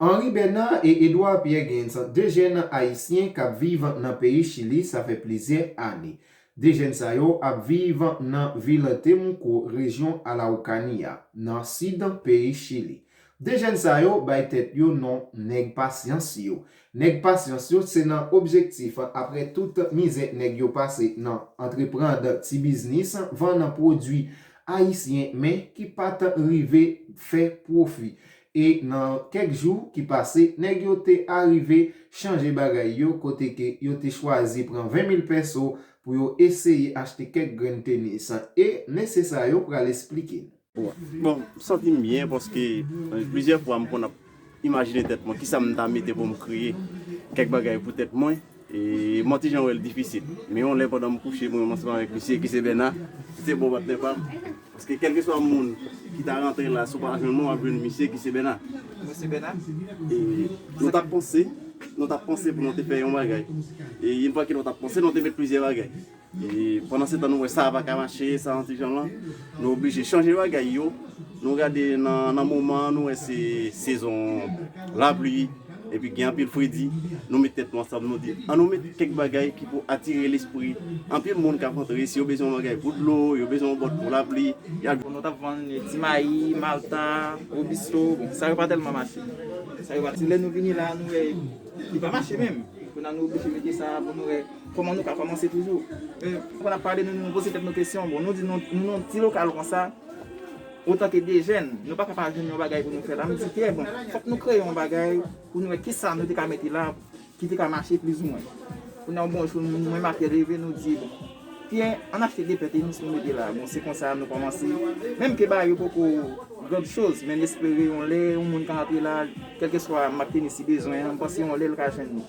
Henri Bernard et Edouard Pierre Genyen 2 jèn ayisyen kap viv nan peyi Chili sa fè plizyè ane. 2 jèn sa yo ap viv nan vil Temuco, rejyon Alaucania, nan sid peyi Chili. 2 jèn sa yo bay tèt yo non nèg pasyans yo. Nèg pasyans yo se nan objektif aprè tout mizè nèg yo pase nan antreprand ti biznis vann pwodwi ayisyen men ki pat rive fè pwofi. E nan kèk jou ki pase, nèg yo te arive chanje bagay yo kote ke yo te chwazi pran 20 mil pèso pou yo eseye achte kèk grenn tenis. E mesye sa yo pral esplike nou. Bon, m santi m byen paske plizyè fwa m konn ap imajine tèt mwen kisa m ta mete pou m kreye kèk bagay pou tèt mwen. Mwen ti jan wè l difisil. Men yon lè pandan m kouche mwen menm ansanm avèk misye ki se Bèna, ki se bon patnè pa m, paske kèlkeswa moun ki ta rantre la si w pa jwenn mwen w ap jwenn misye ki se Bèna. E nou t ap panse, nou t ap panse pou nou te fè yon bagay. E yon pakèt nou t ap panse, nou te met plizyè bagay. E pandansetan nou wè sa a pa ka mache, sa a yon ti jan lan, nou oblije chanje bagay yo. Nou gade nan moman an nou wè se sezon lapli epi gen anpil fredi. Nou met tèt nou ansanm nou di an nou met kèk bagay ki pou atire lespri anpil moun k ap antre. Si yo bezwen yon bagay pou dlo, yo bezwen yon bòt pou lapli, y ap jwenn. Nou t ap vann ti mayi, malta, wobisto, bon sa yo pa tèlman mache. Sa yo pa. Se lè nou vini la a nou wè li pa mache menm. Kounye a nou oblije mete sa a pou nou wè. Kòman nou ka kòmanse toujou? Pandan n ap pale, nou poze tèt nou kesyon, bon, nou di nou nan yon ti lokal konsa, otanke de jèn, nou pa ka pa jwenn yon bagay pou nou fè la. Nou di, Pyè, bon, fòk nou kreye yon bagay pou nou wè ki sa nou te ka mete la ki te ka mache plizoumwen. Kounye a, yon bon jou, mwen menm ak Pyè leve, nou di, bon, Pyè, ann achte de pè tenis pou nou mete la. Bon, se konsa nou kòmanse. Menm ke bagay yo poko grand chose, men n espere yon lè yon moun ka antre la, kèlkeswa mak tenis li bezwen an, m panse yon lè l ka jwenn li.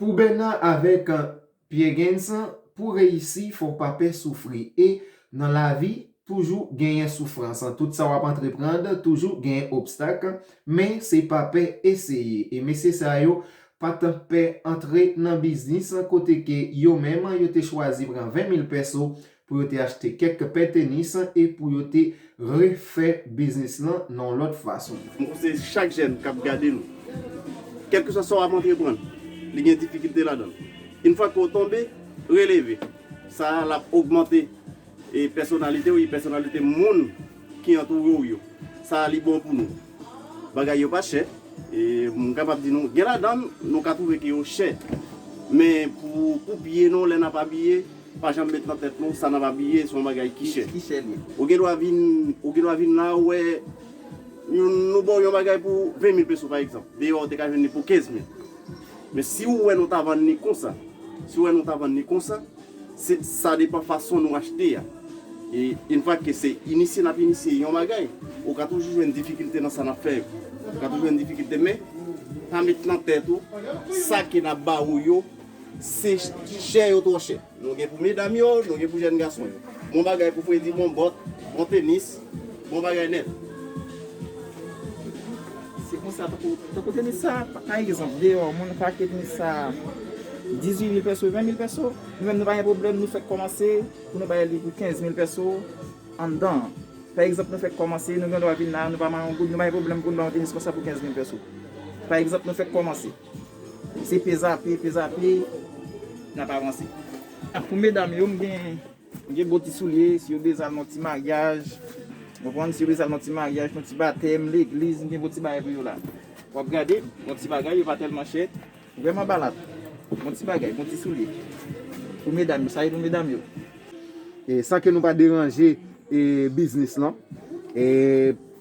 Pou Bena avèk Piergens pou reyisi fòw pa pè soufri e Nan lavi toujou genyen soufrans tout sa wap antreprand toujou genyen obstak men se pa pè eseye e mesye sa yo pat pè antre Nan biznis kote ke yo menm yo te chwazi pran 20 mil pèso pou yo te achte kèk pè tenis e pou yo te refè biznis lan nan yon lòt fason. M panse chak jèn k ap gade nou, kèlkeswa sa w ap antreprann, li gen difikilte ladan l. Infwa ke w tonbe, releve. Sa a, l ap ogmante pèsonalite w e pèsonalite moun ki antoure w yo. Sa a li bon pou nou. Bagay yo pa chè e m kapab di nou, gen ladan l nou ka twouve ke yo chè, men pou pye nou lè n ap abiye, Nou pa janm met nan tèt nou sa n ap abiye se yon bagay ki chè. Ou gen dwa vin ou gen dwa vin la ou wè yon nou ba w yon bagay pou 20 mil peso pa egzanp deyò a ou te ka jwenn li pou 15 mil men si ou wè nou ta vann li konsa si ou wè nou ta vann li konsa se sa depan fason nou achte a e in fak ke se inisye n ap inisye yon bagay ou ka toujou jwenn difikilte nan sa n ap fè yo ou ka toujou jwenn difikilte men pa met nan tèt ou sa ke n ap ba ou yo. Se chè yo twò chè. Nou gen pou medam yo, nou gen pou jèn gason yo. Bon bagay pou fredi, bon bòt, bon tenis, bon bagay nèt. Se konsa tankou, tankou tenis sa, pa egzanp, deyò moun ka achte tenis sa 18 mil pèso, 20 mil pèso, nou menm nou pa gen pwoblèm, nou fèk kòmanse pou nou bay li pou 15 mil pèso anndan an. Pa egzanp nou fèk kòmanse, nou gen dwa vin la, nou pa manyen yon goud, nou pa gen pwoblèm pou nou ba yon tenis konsa pou 15 mil pèso. Pa egzanp nou fèk kòmanse. Se pezape, pezape nap avanse. Pou medam yo m gen bon ti soulye si yo bezwen al nan ti maryaj ou konprann si yo bezwen al nan ti maryaj, nan ti batèm, legliz m gen bon ti bagay pou yo la. Wap gade bon ti bagay yo pa tèlman chè, vrèman balad. Bon ti bagay, bon ti soulye pou medam yo, sa e pou medam yo. San ke nou pa deranje biznis lan.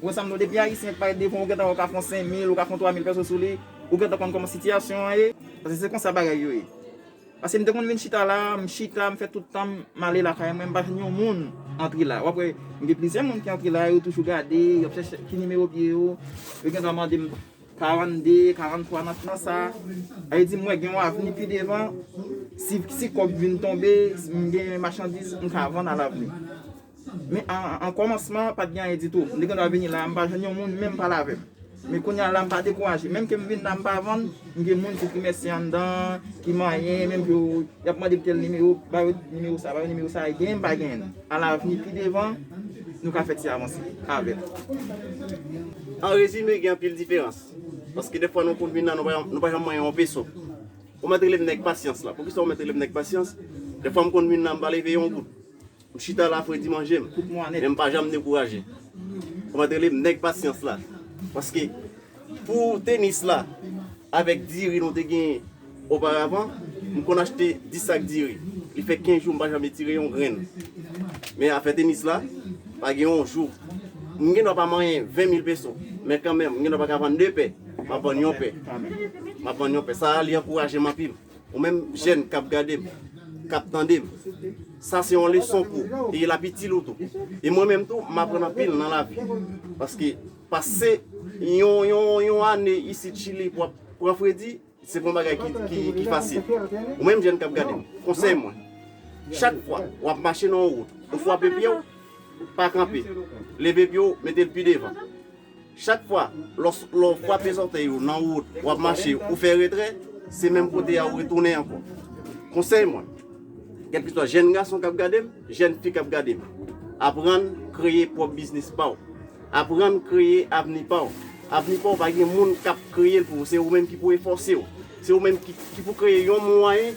Bon sam non depi ayisyen t pale devan ou gentan wè ou ka fon 5000 ou ka fon 3000 pèso sou li ou gentan konn kòman sitiyasyon an ye pase se konsa bagay yo ye pase m te konn vin chita la m chita m fè tout tanm m ale lakay mwen m pa jwenn yon moun antre la wap wè gen plizyè moun ki antre la yo toujou gade yap chèche ki nimewo pye yo yo gentan mande m 42 43 nan sa a yo di m wè gen yon avni pi devan si kòb vin tonbe m gen machandiz m ka vann a lavni. Men an kòmansman pat gen anyen ditou, li gendwa vini la a m pa jwenn yon moun menm pale avè m. Men kounya la m pa dekouraje, menm ke m vin la a m pa vann, m gen moun ki kemèsye anndan an, ki manyen, menm ke yo y ap mande m tèl nimewo, ba yo nimewo sa, ba yo nimewo sa, genyen m pa genyen. A lavni pi devan nou ka fè ti avanse avè m. An rezime gen anpil diferans, paske dèfwa nou konn vin la nou pa janm manyen yon peso. Ou mèt rele m nèg pasyans la, poukisa ou mèt rele m nèg pasyans, dèfwa m konn vin la m pa leve yon goud. M chita la fredi manje m men m pa janm dekouraje Ou met rele m nèg pasyans la paske pou tenis la avèk diri nou te genyen oparavan m konn achte 10 sak diri li fè 15 jou m pa janm etire yon grenn men afè tenis la pa gen yon jou m gen dwa pa manyen 20 mil peso men kanmenm m gen dwa pa ka vann 2 pè m ap vann yon pè m ap vann yon pè sa li ankouraje m anpil. Ou menm jèn kap gadem, kap tandem, sa se yon leson pou ou e lap itil ou tou. E mwen menm tou m aprann anpil nan lavi. Paske pase yon ane isit chili pou ap pran fredi, se pa yon bagay ki fasil. Ou menm jèn kap gadem, konsèy mwen, chak fwa wap mache nan yon wout, ou fwape pyew, pa kanpe, leve pyew, metel pi devan. Chak fwa lè w frape zòtèy ou nan wout, w ap mache, ou fè retrè, se menm kote a ou retounen ankò. Konsèy mwen, kèlkeswa jèn gason k ap gade m, jèn fi k ap gade m, aprann kreye pwòp biznis pa w. Aprann kreye avni pa w. Avni pa w pa gen moun k ap kreye l pou ou, se ou menm ki pou efòse w. Se ou menm ki pou kreye yon mwayen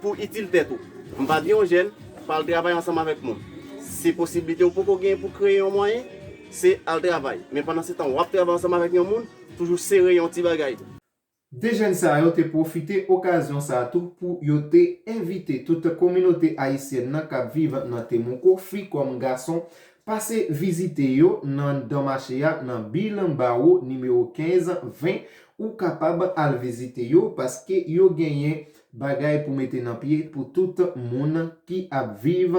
pou w itil tèt ou. M pa di yon jèn pa al travay ansanm avèk moun. Se posiblite ou poko genyen pou w kreye yon mwayen. Se al travay. Men pandan se tan wap travay ansanm avèk yon moun, toujou sere yon ti bagay. 2 jèn sa yo te pwofite okazyon sa tou pou yo te envite tout kominote ayisyèn nan kap viv nan Temuco, fi kòm gason, pase vizite yo nan dan mache a nan Bill Barrow nimewo 15, 20 ou kapab al vizite yo paske yo genyen bagay pou mete nan pye pou tout moun ki ap viv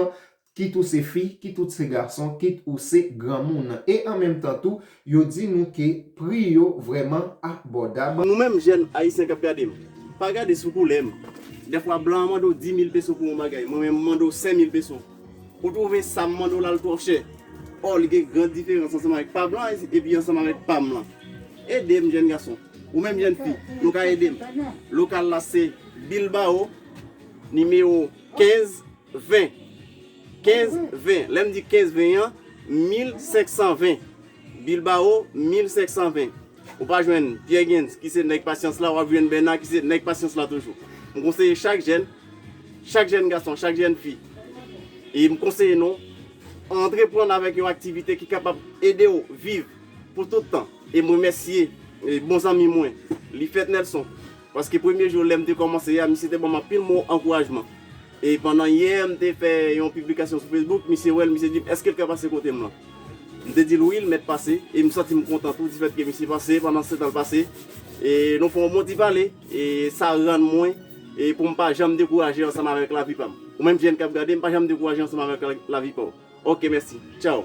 kit ou se fi, kit ou se gason, kit ou se granmoun. E an menm tan tou, yo di nou ke pri yo vrèman abòdab. Nou menm jèn Ayisyen k ap gade m, pa gade sou koulè m. Dèfwa blan an mande w dimil peso pou yon bagay, mwen menm m mande w senmil peso. Ou twouve sa m mande w la l twò chè? Ò, li gen gran diferans ansanm avèk pa blan an epi ansanm avèk pa m lan. Ede m jèn gason, ou menm jèn fi, nou ka ede m. Lokal la se Bilbao, nimewo. 15 20 15 20 lè m di 15 20 an 1520 Bilbao 1520 ou pa jwenn Pierre Gens ki se nèg pasyans la w ap jwenn Bernard ki se nèg pasyans la toujou m konseye chak jèn chak jèn gason chak jèn fi e m konseye nou antreprann avèk yon aktivite ki kapab ede w viv pou tout tan e m remèsye bon zanmi mwen li fèt Nelson. Paske premye jou lè m te kòmanse a, misye te ban m anpil mo ankourajman. E pandan yè m te fè yon piblikasyon sou Facebook, misye wè l, misye di m, èske l ka pase kote m lan? M te di l wi, l mèt pase. E m santi m kontan tou difèt ke misye pase, pandansetan l pase. E nou fè yon bon ti pale, e sa rann mwen e pou m pa janm dekouraje ansanm avèk lavi pa m. Ou menm jèn k ap gade m, pa janm dekouraje ansanm avèk lavi pa w. Ok mèsi tchao.